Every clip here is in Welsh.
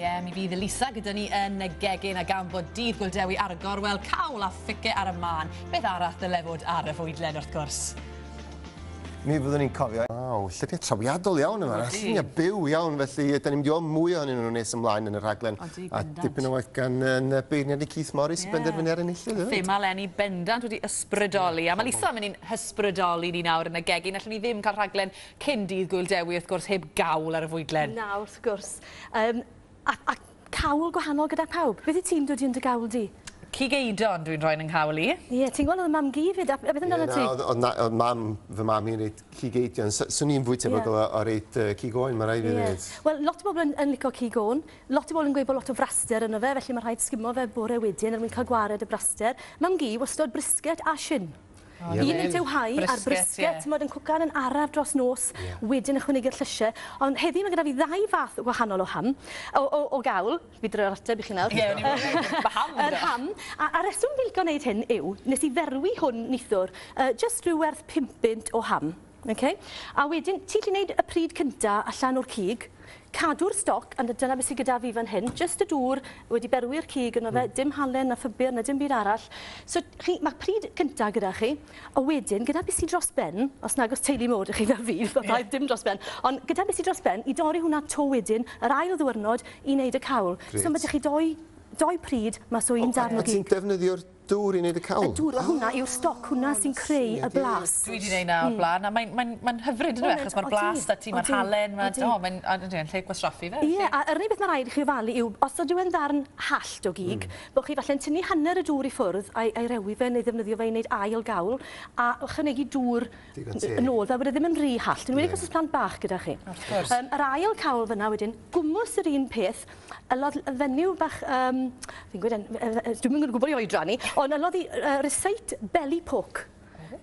Ie, mi fydd Elisa gyda ni yn y gegin a gan bod dydd Gwildewi Argor, wel, cawl a phice ar y mân. Beth arall ddyle fod ar y fwydlen, wrth gwrs? Mi fyddwn ni'n cofio. Waw, llyfrau trawiadol iawn yma. Odi. Lluniau byw iawn, felly yy, 'da ni'n mynd i weld mwy ohonyn nhw nes ymlaen yn y rhaglen. Odi, bendant. A dipyn o waith gan yy, yn y beirniad ni Keith Morris i benderfynu ar enillydd hefyd. Thema leni bendant wedi ysbrydoli. A mae Lisa yn mynd i'n hysbrydoli ni nawr yn y gegin. Allwn ni ddim cael rhaglen cyn dydd Gwyl Dewi, wrth gwrs, heb gawl ar y fwydlen. Na, wrth gwrs. Yym, a, a cawl gwahanol gyda pawb. Beth wyt ti'n dwdi yn dy gawl di? Cig eidon dwi'n rhoi yn 'y nghawl i. Ie, ti'n gweld oedd mam gi 'fyd, a beth amdano ti? Ie, na, oedd, oedd, oedd mam, fy mam i'n reit cig eidon. S- swn i'n fwy tebygol yeah. o, o reit uh, cig oen, mae rhaid i ddweud. Wel, lot o bobl yn, yn licio cig oen. Lot o bobl yn gweud bod lot o fraster yno fe, felly mae rhaid sgimo fe bore wedyn er mwyn cael gwared y braster. Mam gi, wastod brisket a sin. Un yn dewhau a'r brisket, t'mod yn cwcan yn araf dros nos, wedyn ychwanegu'r llysie. Ond heddi ma' gyda fi ddau fath wahanol o ham, o o o gawl, fi droi'r ateb i chi nawr. Ie, o'n i'n meddwl, ma' ham gyda. Yr ham, a a rheswm fi'n lico neud hyn yw, nes i ferwi hwn nithwr, yy jyst rhyw werth pump punt o ham. Ok. A wedyn ti'n gallu neud y pryd cynta allan o'r cig, cadw'r stoc, a dyna beth sy gyda fi fan hyn, jyst y dŵr wedi berwi'r cig yno fe, dim halen na phupur na dim byd arall. So chi, ma' pryd cynta gyda chi, a wedyn gyda beth sy dros ben, os nag o's teulu mowr 'da chi fel fi, ma' rhaid dim dros ben, ond gyda beth sy dros ben, i dorri hwnna 'to wedyn, yr ail ddiwrnod i neud y cawl. Grêt. So ma' 'da chi dou dou pryd mas o un darn o gig. Ti'n defnyddio'r Dŵr i wneud y cawl? Y dŵr, hwnna yw'r stoc, hwnna sy'n creu y blas. Dwi 'di neud 'na o'r bla'n a mae'n mae'n mae'n hyfryd yndyw e achos ma'r blas 'da ti, ma'r halen, ma' o mae'n a ydi e'n lle gwastraffu fe felly. Ie a yr unig beth ma' raid i chi ofalu yw os ydyw e'n ddarn hallt o gig bo' chi falle'n tynnu hanner y dŵr i ffwrdd a'i a'i rewi fe neu ddefnyddio fe i neud ail gawl a ychwanegu dŵr Digon teg. Yn ôl, fel bod e ddim yn rhy hallt. Yn enwedig os oes plant bach gyda chi. Wrth gwrs. Um, yr ail cawl fyna wedyn, gwmws yr un peth, ylodd y fenyw bach, um, fi'n gwybod, dwi'n mynd gwybod i oedran ni, ond ylodd i uh, receit belly pork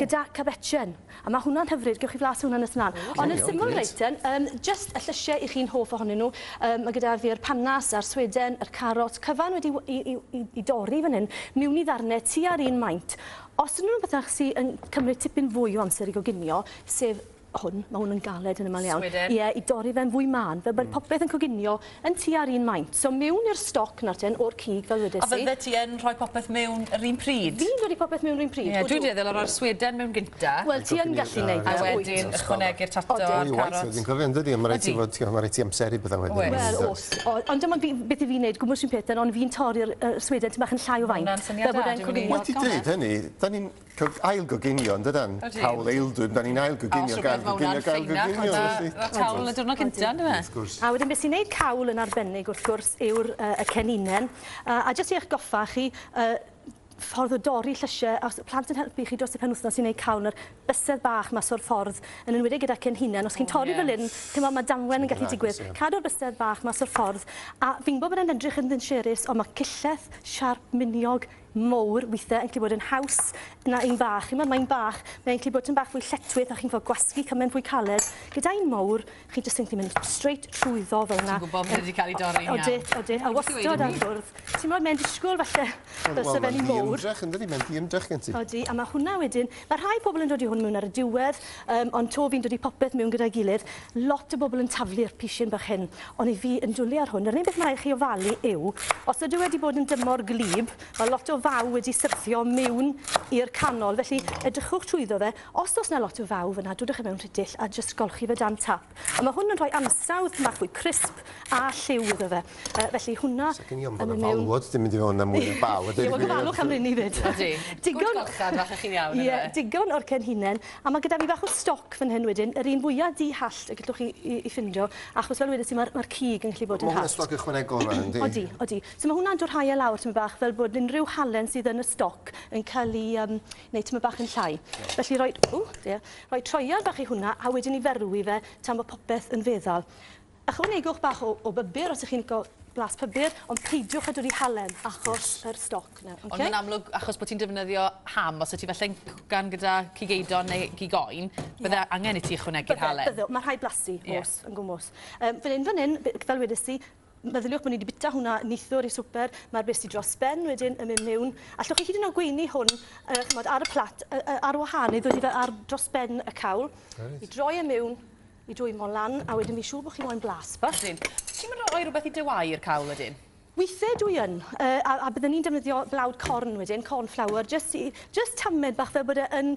gyda cabetchen. A mae hwnna'n hyfryd, gewch chi flas hwnna'n nes ymlaen. Okay, Ond y syml okay. reiten, um, just y llysiau i chi'n hoff ohonyn nhw, um, mae gyda fi'r panas a'r sweden, yr carot, cyfan wedi i, i, i, i dorri fan hyn, miwn i ddarnau tu ar un maint. Os unrhyw un bydach sy yn cymryd tipyn fwy o amser i goginio, sef hwn, ma' hwn yn galed yn amal iawn. Sweden. Ie, i dorri fe'n fwy mân, fel bod popeth yn coginio yn tua'r un maint. So miwn i'r stoc nawr ten, o'r cig, fel wedes i. A fyddet ti yn rhoi popeth miwn yr un pryd? Fi'n rhoi popeth miwn yr un pryd, odw. Ie, dwi'n dueddol o roi'r sweden miwn gynta. Wel, ti yn gallu neud 'na, wyt. A wedyn ychwanegu'r tato a'r carot. Odw. Mwy o waith wedyn, cofia, yndydi? Ydi. A ma' raid ti fod, t'mo', ma' raid ti amseru pethe wedyn. Oes. Wel, o's. O, ond dyma fi, beth 'yf fi'n neud, gwmws fi'n peth, ond fi'n torri'r yy sweden tym' bach yn llai o faint. Fel bod e'n coginio Wedi dweud hynny, da ni'n cog- ail-goginio, yn dydan? Ydyn. Cawl aeldwyd, da ni'n ail-goginio, gael-goginio, gael-goginio, felly. Fel cawl y diwrnod cynta, on'd yfe? Wrth gwrs. A wedyn be' sy'n neud cawl yn arbennig wrth gwrs yw'r yy y ceninen a a jyst i eich goffa chi yy ffordd o dorri llysie os y plant yn helpu chi dros y penwthnos i neud cawl na'r bysedd bach mas o'r ffordd, yn enwedig gyda chi'n hunan, os chi'n torri fel hyn, ch'mod ma' damwen yn gallu digwydd. Cadw'r bysedd bach mas o'r ffordd, a fi'n gwbod bod e'n edrych yn ddinsiyrus ond ma' cillell siarp miniog mowr withe yn gallu bod yn haws na un bach, ch'mod ma' un bach, mae'n gallu bod tym bach fwy lletwith a chi'n gwbo gwasgu cymaint fwy caled, gyda un mowr, chi jyst yn gallu mynd straight trwyddo fel 'na. Ti'n gwybod bod e 'di cael ei dorri'n iawn. Odwyt, odwyt. A wastad ar fwrdd. Timod, mae'n disgwyl falle byse fe'n un mowr. Wel, mae'n ddiymdrech, yndydi? Mae'n ddiymdrech gen ti. Odi, a mae hwnna wedyn... Mae rhai pobl yn dod i hwn mewn ar y diwedd, um, ond to fi'n dod i popeth mewn gyda'i gilydd. Lot o bobl yn taflu'r pishin bach hyn, ond i fi yn dwlu ar hwn, yr unig beth mae rhaid chi ofalu yw, os ydyw e wedi bod yn dymor gwlyb, mae lot o faw wedi syrthio mewn i'r canol, felly edrychwch trwyddo fe, Os oes 'na lot o fawr fan'na, dodwch e mewn rhidill a jyst golchi fe dan tap. A ma' hwn yn rhoi ansawdd cymarthwy crisp a lliw iddo fe. Yy felly hwnna yn mynd mewn... Sa gen i ofn bod 'na falwod 'di mynd i fewn a mwy na bal a deud y gwir. Ie, wel gofalwch am rheiny 'fyd. Odi. Digon... Good golchfan, falle chi'n iawn yndyfe? Ie, digon o'r cenhinen. A ma' gyda fi bach o stoc fan hyn wedyn, yr un fwya di-hallt y gellwch chi 'i 'i ffindo, achos fel wedes i ma'r ma'r cig yn gallu bod yn hallt. Ma' hwnna stoc ychwanegol rwan yndi? Odi, odi. So ma' hwnna'n dwrhau e lawr tymed bach fel bod unrhyw halen sydd yn y stoc yn ca'l 'i yym neu tymor bach yn llai. Felly rhoi, ww, dear, rhoi troiar bach i hwnna a wedyn i ferwi fe tan bod popeth yn feddal. Ychwanegwch bach o, o bybur os ych chi'n lico blas pybur, ond peidiwch â dwlu halen achos yr stoc yna. Okay? Ond mae'n amlwg, achos bod ti'n defnyddio ham, os y ti falle'n cwcan gyda cig eidon neu cig oen, bydde yeah. angen i ti ychwanegu'r halen. Bydde, bydde, mae rhai blasu, yeah. os, yn gwmwys. Um, fan hyn, fan hyn, fel wedes i, Meddyliwch bod ni wedi bita hwnna neithiwr i swper, mae'r bus ti dros ben wedyn yn mynd mewn. Allwch chi hyd yn oed gweini hwn uh, chymod, ar y plat uh, uh, ar wahân neu ddod i fe ar dros ben y cawl, right. i droi e mewn, i dwymo lan, a wedyn fi siŵr bod chi moyn blas. Ydyn. Ti'n mynd rhoi rhywbeth i dywau i'r cawl ydyn? Weithiau dwi yn, uh, a, a byddwn ni'n defnyddio blawd corn wedyn, corn flour, just, i, just tamed bach fel bod e yn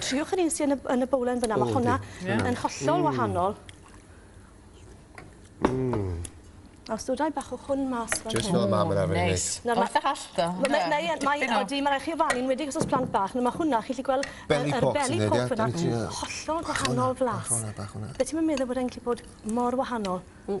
Triwch yr un sy yn y yn y bowlen fynna ma' honna... O yndi. Ie. ...yn hollol wahanol. Mmm. A os dod â i bach o hwn mas fel hyn. Jyst fel ma' ma' arfer neud. Neis. Nawr ma'... Wrth yr allt o. Wel mae mae e mae e odi ma' rai' chi ofalu enwedig os o's plant bach nawr ma' hwnna chi 'llu gwel' y yr belly pops yn neud e yndi? Ie ie. Hollol gwahanol flas. Bach o wnna bach o wnna. Be' ti'm yn meddwl bod e'n gallu bod mor wahanol? Mm.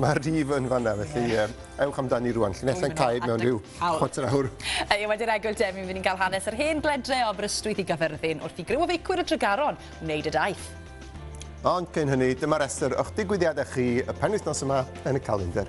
Mae'r rhif yn fanna, felly ie. ewch amdani rwan. Llinellau'n cau mewn rhyw chwarter awr. Ie, wedi'r egwyl Demi, fi'n ni'n cael hanes yr hen gledre o Aberystwyth i Gaerfyrddin wrth i griw feicwyr y Tregaron wneud y daith. Ond cyn hynny, dyma restr o'ch digwyddiadau chi y penwythnos yma yn y calendr.